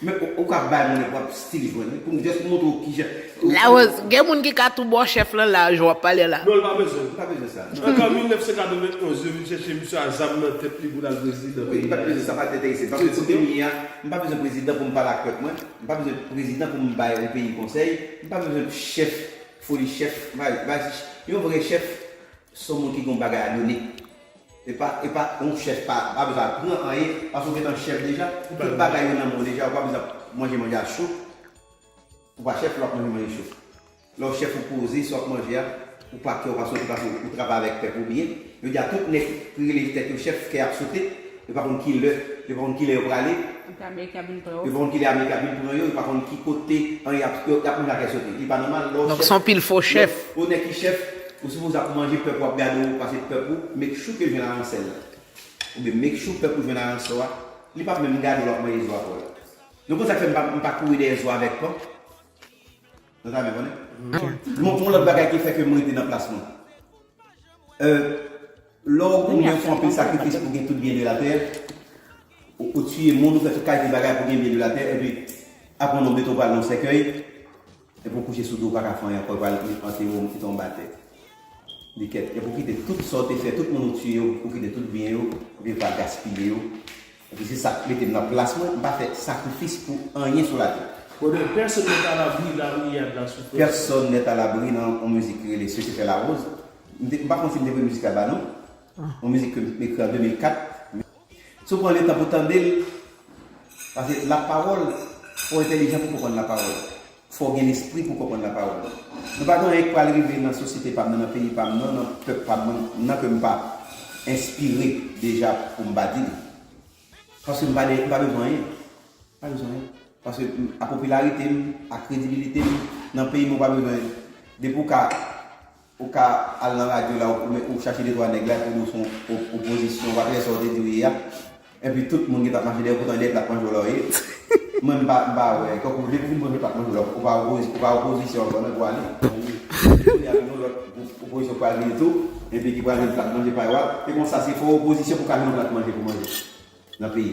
Men ou ka bay moun epi wap still jwenn li poum just montre w kijan Larose gen moun ki ka tou baw chèf lan la jan wap pale la. Non li pa bezwen li pa bezwen sa. Antan 1991 yo vin chèche misye a zam nan tèt li pou lal prezidan peyi a ye. Sa pa enterese paske kote m ye a m pa bezwen prezidan pou m pale ak pèp mwen, m pa bezwen prezidan pou m bay on peyi konsèy, m pa bezwen chèf foli chèf yon vrè chèf son moun ki gon bagay a done. Epa epa on chef pa pa bezwen apran anyen paske ou gentan chef deja ou tout bagay yo nan menw deja ou pa bezwen ap manje manje a cho ou pa chef lè wap manje manje cho lè ou chef ou poze sa wap manje a ou pa kè ou pa sote paske ou travay avèk pèp ou byen jodi a tout nèg ki rele tèt yo chef kè ap sote yo pa konn kilè yo pa konn kilè yo prale yo pa konn kilè amerika vin pran yo yo pa konn ki kote anyen ap yap manje a kè sote li pa nòmal lè ou chef ou nèg ki chef Ou sipoze ap manje pèp wap gade ou pase pèp ou make sure ke jwenn aransèl la oubyen make sure pèp ou jwenn aransò a li pap menm gade w lap manje zo a kò l nou konn sak fè m pa kouri dèyè zo avèk kò nou ta renmen konnen yon lòt bagay ki fè ke m rete nan plas mwen lè w goumen ou fè anpil sakrifis pou gen tout byen de la tè ou tiye moun ou fè tout kalite bagay pou gen byen de la tè epi apre nou mete w pral nan sèkèy. E pou kouche sou do paka fè anyen ankò yo pral antere w kite w anba tè li kèt e pou kite tout sa w te fè tout moun ou tiye yo pou kite tout byen yo epi ou pa gaspiye yo epi se sak mete m nan plas mwen m pa fè sakrifis pou anyen sou latè. Konnen pèsonn nèt alabri la riyad la sou plas. Pèsonn nèt alabri nan yon mizik ki rele Sese Fèlawòz m te m pa konn si m te premye mizik la ba non yon mizik ke m ekri an 2004 m. Si w pran letan pou tande l, pase la pawòl, fò w entelijan pou w konprann la pawòl. Fò w gen lespri pou w konprann la pawòl. Nou pa gen anyen k pral rive nan sosyete pa m nan, nan peyi pa m nan, nan pèp pa m nan, nan ke m pa enspire deja pou m pa di l. Paske m pa de, m pa bezwen anyen. M pa bezwen anyen. Paske a popilarite m, a kredibilite m nan peyi m ou pa bezwen, depi w ka. Ou ka al nan radyo la ou men ou chache de twa nèg la epi ou di w son opozisyon wap lè sa w te di w ye a epi tout moun gen plat mache dèyè w poutan dèyè plat manje w la w ye mwen m pa m pa wè tankou depi w fin manje plat manje w la ou pa opozisyon ou pa opozisyon ankò nan vwa li epi kounya vin yon lòt gwoup opozisyon pral vini tou epi ki pral vin plat manje pa yo a se konsa se fò w opozisyon pou w ka jwenn yon plat manje pou w manje nan peyi.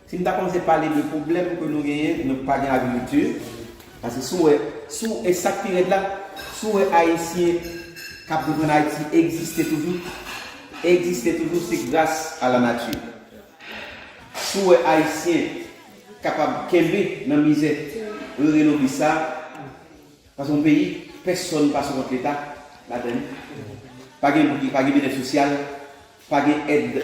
Si nou ta kòmanse pale de pwoblèm ke nou genyen, nou pa gen agrikilti, paske si w wè, si w, e sa k pi rèd la, si w wè Ayisyen k ap viv ann Ayiti egziste toujou, egziste toujou se gras a lanati. Si w wè Ayisyen kapab kenbe nan mizè rere lobis sa a, paske yon peyi, pèsòn pa sou kont Leta ladann li, pa gen, pa gen byennèt sosyal, Pa gen èd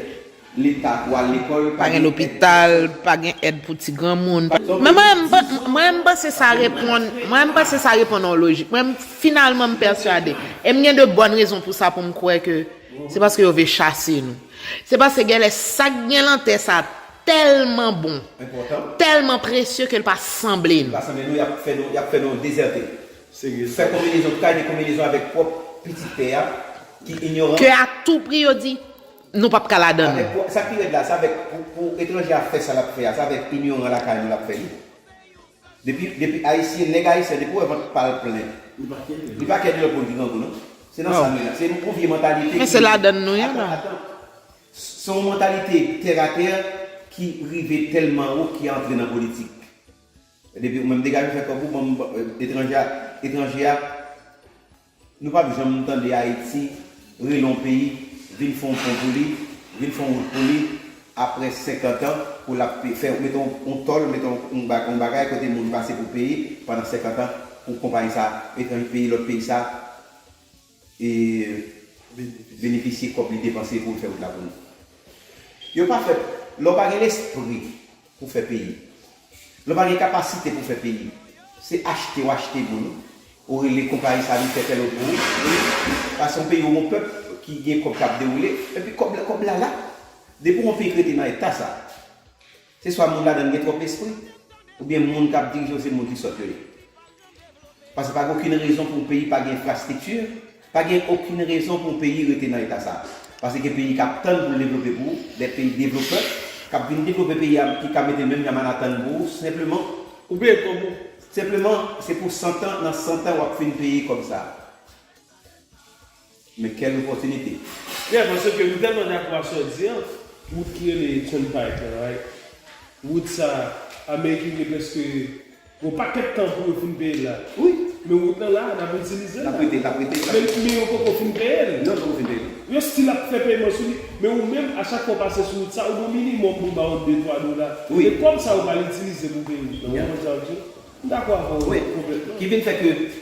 Leta pou al lekòl, pa gen lopital, pa gen èd pou ti granmoun, pa. Men mwen m panse sa reponn, mwen m panse sa reponn yon lojik. Mwen m finalman m pèsuade, e m gen de bòn rezon pou sa pou m kwè ke se paske yo ve chase nou. Se paske gen lè sa k gen lan tè sa tèlman bon, tèlman presye ke l pa sanble nou. Li pa sanble nou, y ap fè nou, y ap fè nou dezète. Fè konbinezon ki ka gen konbinezon avèk pwòp pitit pè a ki inyoran. Ke a tou pri yo di, Nou pap ka ladan l. Sa k pi rèd la, sa avèk pou etranje a fè sa l ap fè a, sa avèk inyoran lakay nou l ap fè li. Depi, depi Ayisyen, nèg Ayisyen an, depi w wè vant pa l plen, li pa kè ni lòt moun ki grangou non. Se nan sa nou ye la. Se yon vye mantalite ki. Men se ladan nou ye la. Atan, atan. Se yon mantalite tèratè ki rive tèlman wo ki antre nan politik. Depi ou menm degaje fè kòb ou banm etranje a etranje a nou pap janm tande ayiti rele yon peyi vin fè yon pon pou li vin fè yon wout pou li aprè 50 ans pou lap fè mete yon tòl mete yon bagay kote moun pase pou peye pandan 50 ans pou konpayi sa etranje peyi lòt peyi sa. E benefisye kòb li depanse poul fè wout la pou li. Yo pa fè, lè w pa gen lespri pou fè peyi, lè w pa gen kapasite pou fè peyi, se achte w achte moun, ou rele konpayi sa vin fè tèl wout pou ou, pase yon peyi ou gon pèp ki gen kòb kap dewoule, epi kòb la, kòb la la. Depi yon peyi k rete nan eta sa. Se swa moun ladan l gen twòp espri, oubyen moun k ap dirije yo se moun ki sòt yo ye. Paske pa gen okenn rezon pou yon peyi pa gen enfrastrikti, pa gen okenn rezon pou yon peyi rete nan eta sa a. Paske gen peyi k ap tann pou l devlope pou ou, dè peyi devlopè k ap vin devlope peyi a ki ka mete l menm jan Manhattan pou ou senpleman, ou peye kòb ou, senpleman se pou santan, nan santan w ap fin peye kòb sa a. Men quelle opportunité. Yeah paske ke m telman dako a sa w di an. Wout ki rele turnpike lan right wout sa amerikin gen preske yon pakèt tan pou yo fin peye l la wi men wout lan la nap itilize l la men yo poko fin peye l yo stil ap fè peman sou li men ou menm a chak fwa w pase sou wout sa ou gen yon minimòm pou yo ba w de twa dola e kòb sa yo pral itilize pou peye wout lan ou wè jan l di m dakò avè w konplètman.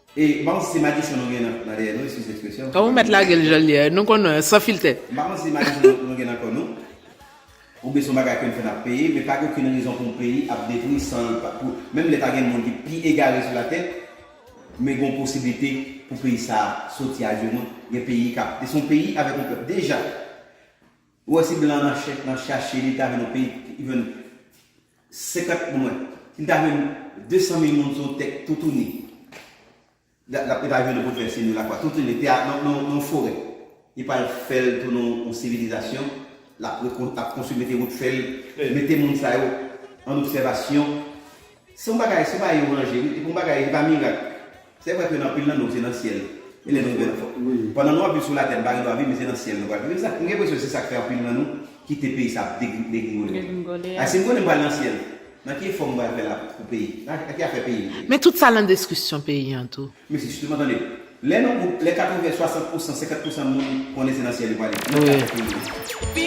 E banm si madichon nou gen nan dèyè nou eskize ekspresyon. Ou mèt lagel janl ye a nou konnen an san filtè. M pa konn si madichon nou gen nan kò nou. Oubyen se yon bagay ke n fè n ap peye, men pa gen okenn rezon pou yon peyi ap detwi san l pa, pou, menm lè ta gen moun ki pi egare sou latè, men gen yon posiblite pou peyi sa a soti ajenou, gen peyi k ap, se yon peyi avèk yon pèp deja. Ou wè si blan nan chèk lan chache li ta jwenn yon peyi ki jwenn 50 bon mwen li ta jwenn 200 mil moun sou yon tè toutouni lap lap li pa jwenn opote fè siy nou lakwa toutouni tè a nan nan yon forè li pral fèl tounen yon sivilizasyon lap rekonstwi lap konstwi mete wout fèl mete moun sa yo an obsèvasyon. Se yon bagay, se yon bagay yo ranje wi, epi yon bagay li pa mirak. Se vre ke nan anpil nan nou se nan syèl e lè nou rive nan fò. Pandan nou ap viv sou latè nou pa gen dwa viv men se nan syèl nou pral viv. Epi sa, m gen enpresyon se sa k fè anpil nan nou kite peyi sa ap degringole wi. Degringole. Si m konnen m pral nan syèl, nan ki efò m pral fè la pou peyi? Nan ki afè peyi m? Men tout sa nan deskrisyon peyi an tou. Men se jisteman tande. Lè yon gwoup, lè 80, 60 pousan, 50 pousan moun konnen se nan syèl yo prale, nan ki afè peyi m?